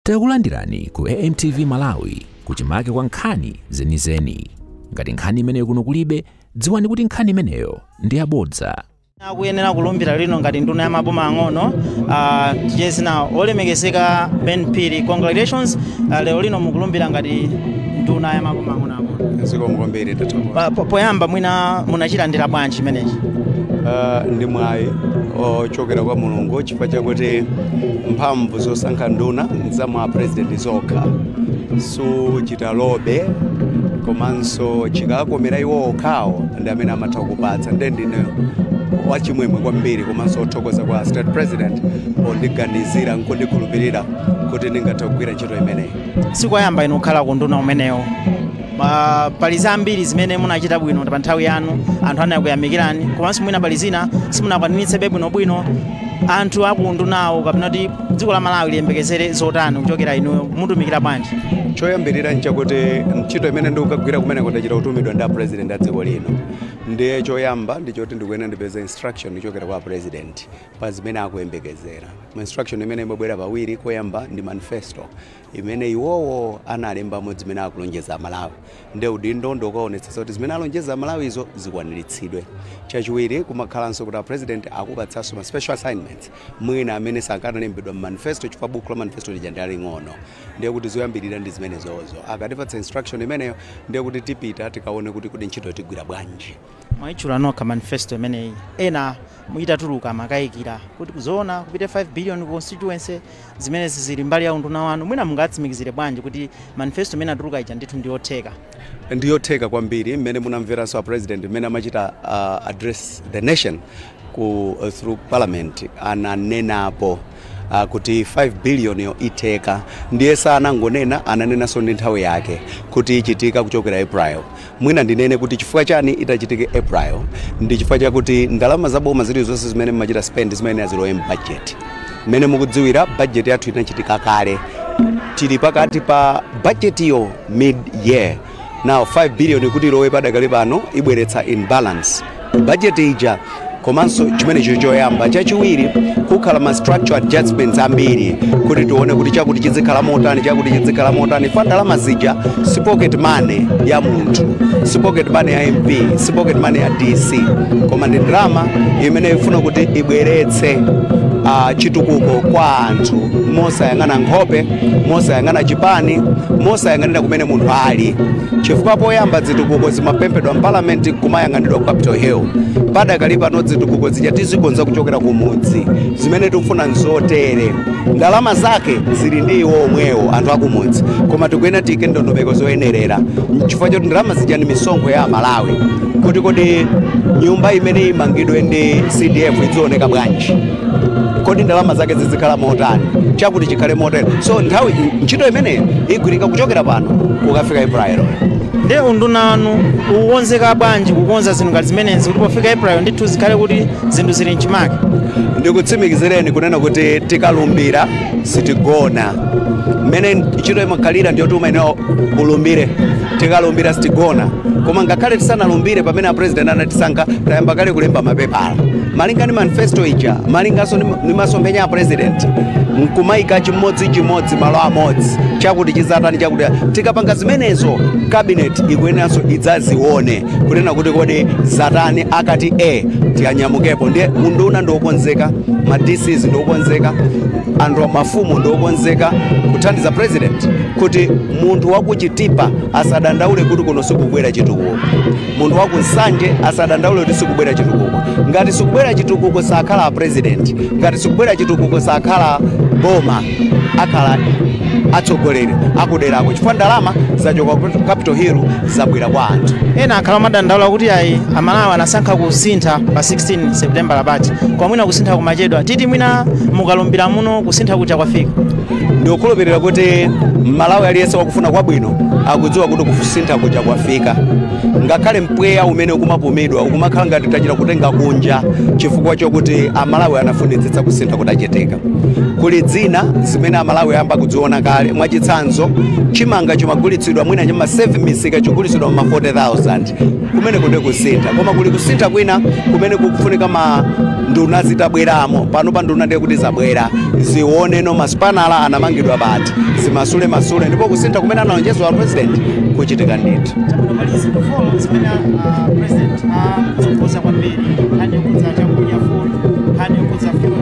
Takulandirani ku AMTV Malawi kuchimake kwa nkhani zenizeni. Ngati nkhani imeneyo kuno kulibe, dziwani kuti nkhani imeneyo ndi yabodza. akuyenera kulumbira lino ngati nduna ya maboma ang'ono uh, dzina olemekezeka ben phiri congratulations uh, lero lino mukulumbira ngati nduna ya maboma ang'ono ang'ono zikomo kwambiri tathokoza Pa- po- poyamba mwina munachilandira bwanji chimenechi Ah, ndi mwayi ochokera kwa mulungu chifukwa chakuti mphamvu zosankha nduna zili mwa apresident zokha suchita lobe komanso chikakomera iwo okhawo ndi amene amatha kukupatsa nde ndine wachimwemwe kwambiri komanso othokoza kwa state president pondiganizira nkundikhulupirira kuti ndingathe kugwira ntchito imeneyi sikoyamba inu kukhala kunduna umenewo Ma- pali zambiri zimene munachita bwino pa nthawi yanu anthu anakuyamikirani komanso mwina pali zina simunakwanitsebe bwinobwino anthu akundunawo kapena kuti dziko la malawi liyembekezere zotani kuchokera inuyo mutumikira bwanji choyambirira nchakuti ntchito imene ndikukagwira kumeneko ndachita kutumidwa ndi apresident a dziko lino ndiye choyamba ndichoti ndikuyenera ndipeze instruction kuchokera kwa apresident pa zimene akuyembekezera instruction imene imabwera pawiri koyamba ndi manifesto imene iwowo analembamo zimene akulonjeza Amalawi. Nde udindo ndi wokaonetsetsa kuti zimene alonjeza Amalawizo zikwaniritsidwe. Chachiwiri, kumakhalanso kuti a president akupatsanso ma special assignments mwina amene sanalembedwe m'manifesto chifukwa buku la manifesto lija ndi laling'ono. Ndiye kuti zoyambirira ndi zimenezozo. Akatipatsa instruction imeneyo, ndiye kuti tipita tikaone kuti kodi ntchitoyo tigwira bwanji. Mwaitchula nokha manifesto imeneyi, ena itatuluka amakayikira kuti zoona kupite 5 billion ku constituency, zimenezi zili mbali ya unduna wanu? Mwina mungawatsimikizire bwanji kuti manifesto imene inatuluka ija ndithu ndi yotheka? Ndiyotheka kwambiri, mmene munamveranso a president mmene amachita address the nation, ku through parliament ananenapo uh, kuti 5 billion yo itheka ndiye sanangonena ananenanso ndi nthawi yake kuti ichitika kuchokera april mwina ndinene kuti chifukwa chani itachitike april ndi chifukwa chakuti ndalama za boma zilizonse zimene mmachita spend zimayenera zilowe mbajeti mmene mukudziwira bajeti yathu inachitika kale tili pakati pa bajetiyo mid year now 5 billion kuti ilowe padakali pano ibweretsa imbalance budget ija komanso chimenecho choyamba chachiwiri pakhala ma structural adjustments ambiri kuti tione kuti chakuti chizikhala motani chakuti chizikhala motani fa ndalama zija si pocket money ya munthu si pocket money ya mp si pocket money ya dc koma ndi ndalama imene ifuna kuti ibweretse uh, chitukuko kwa anthu mosayang'ana nkhope mosayang'ana chipani mosayang'anira kumene mmene munthu ali chifukwa poyamba zitukuko zimapemphedwa mpalamenti kumayang'anidwa ku capital hill padakali pano zitukuko zija tizikonza kuchokera ku mudzi zimene tikufuna nzotere ndalama zake zili ndi iwo omwewo anthu akumudzi koma tikuyenera tiyike ndondomeko zoyenerera chifukwa choti ndalama zija ndi misonkho ya amalawi kuti kodi nyumba imene imangidwe ndi cdf idzioneka bwanji kodi ndalama zake zizikhala motani chakuti chikhale motani so nthawi ntchito imeneyi igwirika kuchokera pano kukafika april nde unduna wanu ukukonzeka bwanji kukonza zinthu ngati zimenezi kuti pofika april ndithu zikhale kuti zinthu zili mchimake ndikutsimikizireni kunena kuti tikalumbira sitigona mmene ntchito imakhalira ndi yoti umayenera ulumbire tikalumbira sitigona koma ngakhale tisanalumbire pamene apresident anatisankha tayamba kale kulemba mapepala malinga ndi manifesto ija malinganso ndi- ndi masomphenya a president nkumayika chimodzi chimodzi malo amodzi chakuti chizatani chakuti tikapanga zimenezo cabinet ikuyeneranso idzazione kunena kuti kodi zatani akati tiyanyamukepo ndiye unduna ndiokonzeka ma dcs ndiokonzeka anthu mafumu ndiokonzeka kuthandiza president kuti munthu wakuchitipa asadandaule kuti kuno sikubwera chitukuko munthu wakunsanje asadandaule kuti sikubwera chitukuko ngati sikubwera chitukuko sakhala a president ngati sikubwera chitukuko sakhala boma akhala atsogoleri akuderako chifukwa ndalama zachoka ku capital hill zabwera kwa anthu ena akhala akumadandaula kuti ayi amalawi anasankha kusintha pa 16 september lapitali koma mwina kusintha kumachedwa titi mwina mukalumbira muno kusintha kuja kwafika ndikukhulupirira kuti mmalawi aliyense wakufuna kwabwino akudziwa kuti kusintha kuja kwafika ngakhale mpweya umene ukumapumidwa ukumakhala ngati tachita kutenga kunja chifukwa chokuti amalawi anafunitsitsa kusintha kutachitika kuli zina zimene amalawi ayamba kuziona kale mwachitsanzo chimanga chimagulitsidwa mwina cha mma 7 misika chikugulitsidwa muma 40000 kumeneko nde kusintha koma kuli kusintha kwina kumene kukufunika ma nduna zitabweramo pano pa nduna ndiye kuti zabwera zione noma zipangizo zinamangidwa bwanji zimasule masule ndipo kusintha kumene analonjeza a president kuchitika ndithu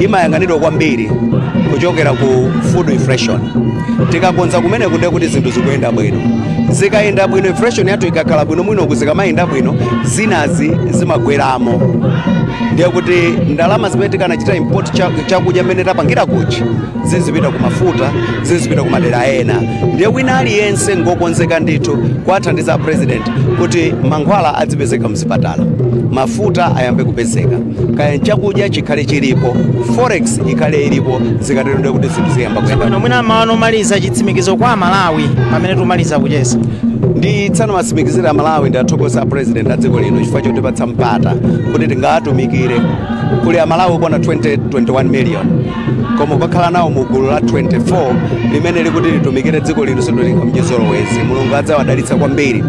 imayang'anidwa kwambiri kuchokera ku food inflation tikakonza kumeneko nde kuti zinthu zikuyenda bwino zikayenda bwino inflation yathu ikakhala bwino uku zikamayenda bwino zinazi zimagweramo ndiye kuti ndalama zimene tikanachita import cha- chakudya mmene tapangira kuchi zizipita ku mafuta zizipita ku madera ena ndiye wina aliyense ngokonzeka ndithu kuwathandiza a president kuti mankhwala adzipezeka mzipatala mafuta ayambe kupezeka kaya chakudya chikhale chilipo forex ikhale ilipo zikatero ndiye kuti zinthu ziyamba kuyenda bwino mwina mawu anu omaliza chitsimikizo kwa amalawi pamene timaliza kucheza ndisanawatsimikizire amalawi ndiwathokoze apresident a dziko lino chifukwa chotipatsa mpata kuti tingawatumikire kuli amalawi okwana 21 million koma ukakhala nawo mu gulu la 24 limene likuti litumikire dziko lino sinditengera mchizolowezi mulungu adzawadalitsa kwambiri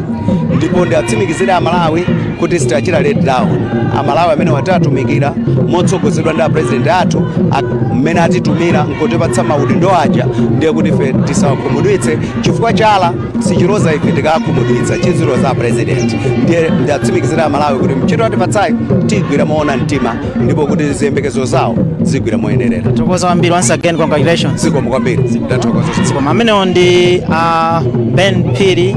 ndipo ndiwatsimikizire amalawi kuti sitiwachita let down amalawi amene tiwatumikira motsogozedwa ndi apresident athu mmene atitumila nkutipatsa maudindo aja ndiye kuti ife tisawakhumudwitse chifukwa chala sichiloza ife tikawakhumudwitsa chiziloza apresident ndiye ndiwatsimikizire amalawi kuti ntchito atipatsayi tigwira moona mtima ndipo kuti ziyembekezo zawo zigwira moyenerera Tathokoza kwambiri once again congratulations. zikomo kwambiri ndathokoza Koma amenewo ndi ah, Ben Phiri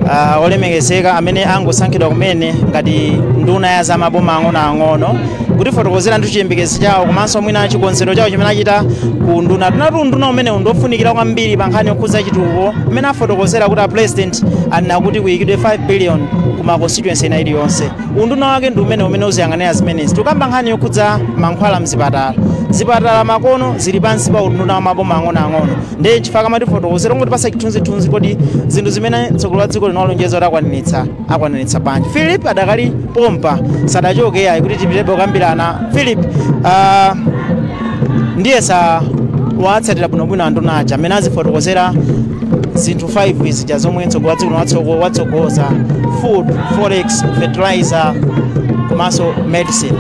ah, olemekezeka amene angosankhidwa kumene ngati nduna ya za maboma ang'onoang'ono kutifotokozeratu chiyembekezo chawo komanso mwina chikonzero chawo chimene achita ku undunatu inetu unduna umenewu ndi ofunikira kwambiri pa nkhani yokhudza chitukuko mmene afotokozera kuti a president anena kuti kuyikidwe 5 billion ku ma constituency ina iliyonse unduna wake ndi umene umene uziyang'anira zimenezi tikamba nkhani yokhudza mankhwala mzipatala zipatala pakano zili pansi pa unduna wa maboma ang'onoang'ono ndiye nchifukwa chake amatifotokozera kutipatsa chithunzithunzi kodi zinthu zimene mtsogoleri wa dziko lino walonjeza kuti akwaniritsa akwaniritsa bwanji philip adakali pompa sadachoke ayi kuti tipitebe kukambirana philip uh, ndiyesa watsatira bwinobwino anduna aja mmene azifotokozera zinthu 5 zija zomwe mtsogoleri wa dziko lino watsogo- watsogoza food forex fertilizer komanso medicine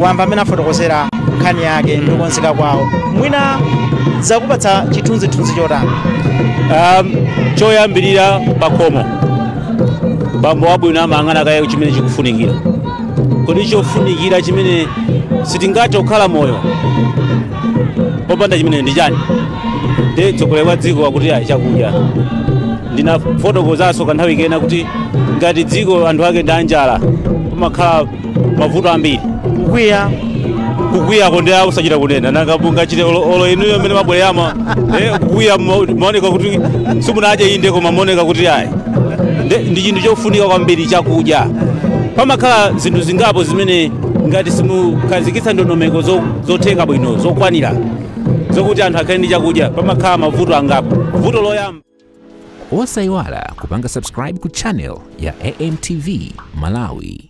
wamva mmene afotokozera nkhani yake ndi kukonzeka kwawo mwina zakupatsa chithunzithunzi chotani um, choyambirira pakhomo bambo wabwino amayang'ana kaye chimene chikufunikira kodi chofunikira chimene sitingathe kukhala moyo popanda chimene ndi chani ndiye mtsogoleri wa dziko akuti ayi chakudya ndinafotokozanso kanthawi kena kuti ngati dziko anthu ake ndi anjala pamakhala mavuto ambiri kukwiya kukwiyako nde kosachita kunena nanga mungachite olo olo inuyo mmene mabwera mwina eh, kukwiya mma- maoneka kuti simunadye inde koma maoneka kuti ayi Ndi- ndi chinthu chofunika kwambiri chakudya pamakhala zinthu zingapo zimene ngati simukhazikitsa ndondomeko zo- zotheka bwino zokwanira zokuti anthu akhale ndi chakudya pamakhala mavuto angapo vuto loyamba osayiwala kupanga subscribe ku channel ya amtv malawi